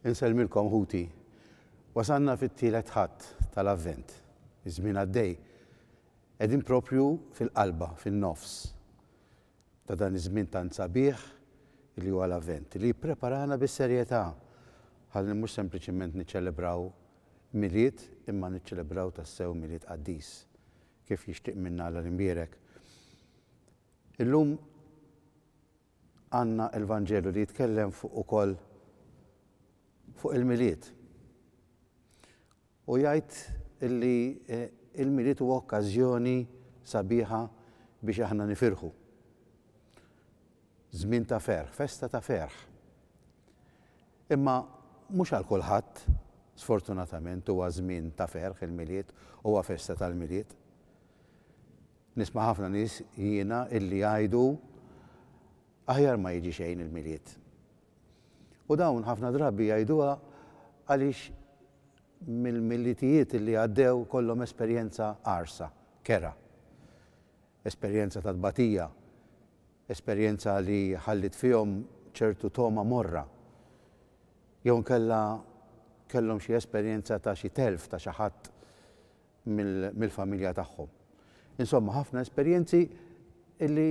Insellmilkom ħuti. Wasalna fit-tielet Ħadd tal-Avvent. Iż-żmien għaddej. Qegħdin proprju fil-qalba, fin-nofs, ta' dan iż-żmien tant sabiħ li huwa l-Avvent, li jippreparana bis-serjetà ħalli mhux sempliċiment niċċelebraw Milied imma niċċelebraw tassew Milied qaddis. kif jixtieq minna Alla l-Imbierek. Illum għandna l-Vanġelu li jitkellem fuq ukoll fuq il-Milied. U jgħid illi eh, il-Milied huwa okkażjoni sabiħa biex aħna nifirħu. Żmien ta' ferħ, festa ta' ferħ. Imma mhux għal kulħadd, sfortunatament, huwa żmien ta' ferħ il-Milied, huwa festa tal-Milied. Nisma' ħafna nies jiena illi jgħidu aħjar ma jiġi xejn il-Milied. U dawn ħafna drabi jgħiduha għaliex mill-Milidijiet illi għaddew kollhom esperjenza qarsa, kerha. Esperjenza ta' tbatija, esperjenza li ħalliet fihom ċertu togħma morra. Jew inkella kellhom xi esperjenza ta' xi telf ta' xi ħadd mill-familja tagħhom. Insomma, ħafna esperjenzi li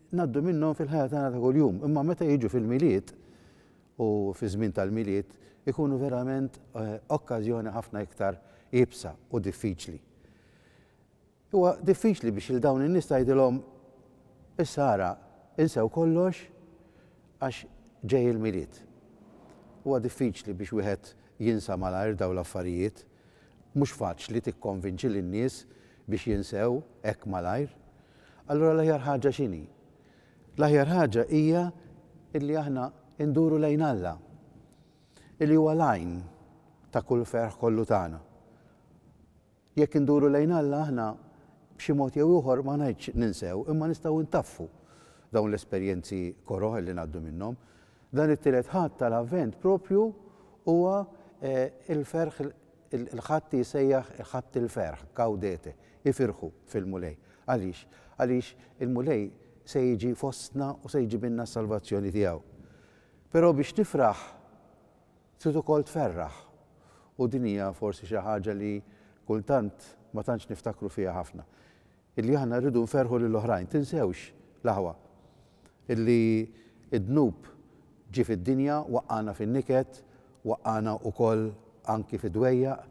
ngħaddu minnhom fil-ħajja tagħna ta' kuljum, imma meta jiġu fil-Milied u fiż-żmien tal-Milied ikunu verament okkażjoni ħafna iktar iebsa u diffiċli. Huwa diffiċli biex lil dawn in-nies tgħidilhom, Issa ara, insew kollox għax ġej il-Milied. Huwa diffiċli biex wieħed jinsa malajr dawn l-affarijiet. Mhux faċli tikkonvinċi lin-nies biex jinsew hekk malajr. Allura l-aħjar ħaġa x'inhi? L-aħjar ħaġa hija li aħna nduru lejn Alla, li huwa l-għajn ta' kull ferħ kollu tagħna. Jekk induru lejn Alla aħna b'xi mod jew ieħor ma ngħidx ninsew imma nistgħu ntaffu dawn l-esperjenzi koroh li ngħaddu minnhom. Dan it-Tielet Ħadd tal-Avvent proprju huwa l-ferħ il-Ħadd li jsejjaħ Ħadd il-ferħ, gaudete, ifirħu fil-Mulej. Għaliex? Għaliex il-Mulej se jiġi fostna u se jġibilna s-salvazzjoni tiegħu. Però biex nifraħ, Trid ukoll tferraħ. U din hija forsi xi ħaġa li kultant ma tantx niftakru fiha ħafna. Illi aħna rridu nferrħu lil oħrajn. Tinsewx, l-aħwa, illi d-dnub ġie fid-dinja, waqqagħna fin-niket, waqqagħna ukoll anki fid-dwejjaq,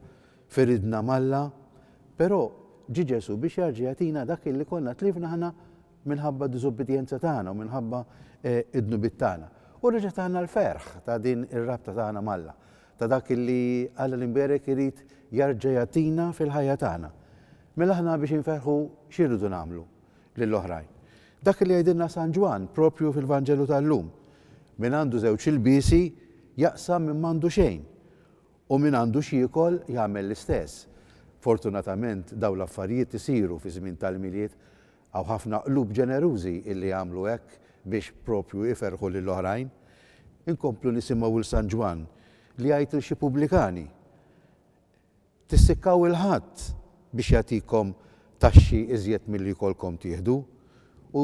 firidna m'Alla, però ġie Ġesù biex jarġa' jagħtina dak illi konna tlifna aħna minħabba d-diżubbidjenza tagħna u minħabba d-dnubiet tagħna. U reġa' tana l-ferħ ta' din ir-rabta tagħna m'Alla, ta' dak illi Alla l-Imberek irid jarġa' jagħtina fil-ħajja tagħna. Mela aħna biex inferħu xi rridu nagħmlu lil oħrajn? Dak illi jgħidilna San Ġwann proprju fil-Vanġelu tal-lum, Min għandu żewġ ilbiesi jaqsam minn m'għandu xejn, u min għandu x'jiekol jagħmel l-istess. Fortunatament dawn l-affarijiet isiru fiż-żmien tal-Milied Hawn ħafna qlub ġenerużi illi jagħmlu hekk biex proprju iferrħu lil oħrajn. Inkomplu nisimgħu 'l San Ġwann li jgħid 'l xi pubblikani, Tissikkaw 'il ħadd biex jagħtikom taxxi iżjed milli jkollkom tieħdu. U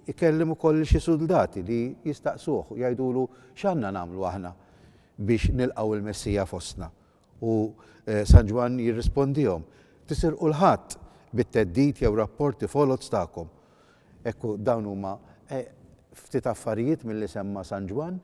jkellem ukoll 'l xi suldati li jistaqsuh u jgħidulu, X'għandna nagħmlu aħna biex nilqgħu l-Messija fostna? U San Ġwann jirrispondihom, Tisirqu l-Ħadd bit-theddid jew rapporti foloz tagħkom. Ekku, dawn huma ftit affarijiet milli semma San Ġwann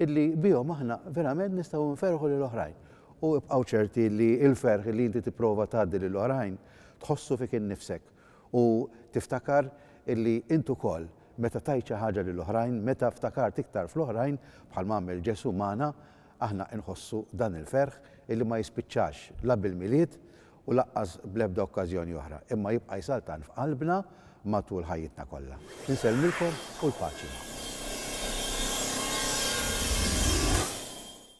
illi bihom aħna verament nistgħu nferrħu lil oħrajn. U ibqgħu ċerti li l-ferħ li inti tipprova tgħaddi lil oħrajn tħossu fik innifsek u tiftakar illi int ukoll meta tajt xi ħaġa lil oħrajn, meta ftakart iktar fl-oħrajn, bħalma għamel Ġesù magħna, Aħna nħossu dan il-ferħ illi ma jispiċċax la bil-Milied u lanqas bl-ebda okkażjoni oħra, imma jibqa' jsaltan f'qalbna matul ħajjitna kollha. Insellmilkom u l-paċi magħkom.